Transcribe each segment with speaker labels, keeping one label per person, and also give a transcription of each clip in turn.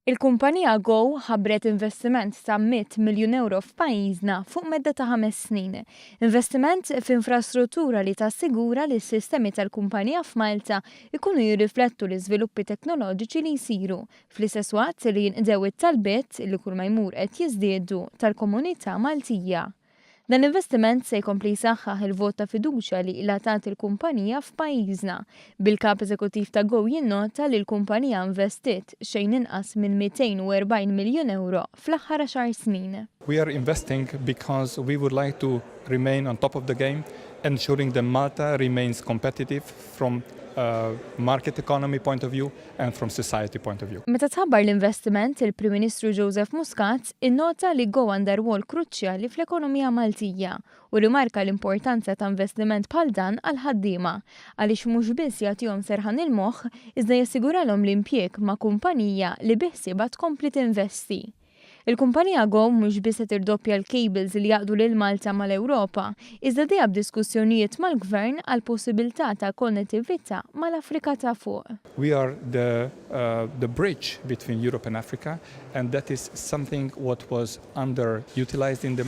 Speaker 1: Il-kumpanija Go ħabbret investiment ta' 100 miljun euro f'pajjiżna fuq medda ta' ħames snin. Investiment f'infrastruttura li tassigura li s-sistemi tal-kumpanija f'Malta jkunu jirriflettu l-iżviluppi teknoloġiċi li jsiru, fl-istess waqt li jinqdew it-talbiet, li kull ma jmur qed jiżdiedu, tal-komunità Maltija. Dan l-investiment se jkompli jsaħħaħ il-vot ta' fiduċja li ilha tagħti l-kumpanija f'pajjiżna, bil-Kap Eżekuttiv ta' Go jinnota li l-kumpanija investiet xejn inqas minn 240 miljun ewro fl-aħħar għaxar snin. We are investing
Speaker 2: because we would like to remain on top of the game, ensuring that Malta remains competitive from a market economy point of view and from society point of view. Meta tħabbar l-investiment,
Speaker 1: il-Prim Ministru Joseph Muscat Innota li Go għandha rwol kruċjali fl-ekonomija Maltija u rimarka l-importanza ta' investiment bħal dan għall-ħaddiema għaliex mhux biss jagħtihom serħan il-moħħ iżda jassiguralhom l-impjieg ma' kumpanija li biħsiebha tkompli tinvesti. Il-kumpanija Go mhux biss se tirdoppja l-kejbils li jgħaqqdu lil Malta mal-Ewropa iżda dejha b'diskussjonijiet mal-Gvern għall-possibilità ta' konnettività mal-Afrika ta' Fuq. We are the
Speaker 2: the bridge between Europe and Africa and that is something what was under utilised in the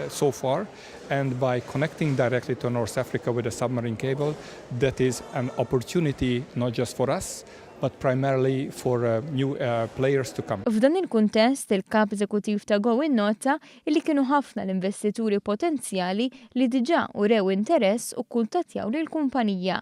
Speaker 2: so far and by connecting directly to North Africa with a submarine cable that is an opportunity not just for us but primarily for uh, new uh, players to come. F'dan il-kuntest,
Speaker 1: il-Kap Eżekuttiv ta' Go innota li kienu ħafna l-investituri potenzjali li diġà urew interess u kkuntattjaw lill-kumpanija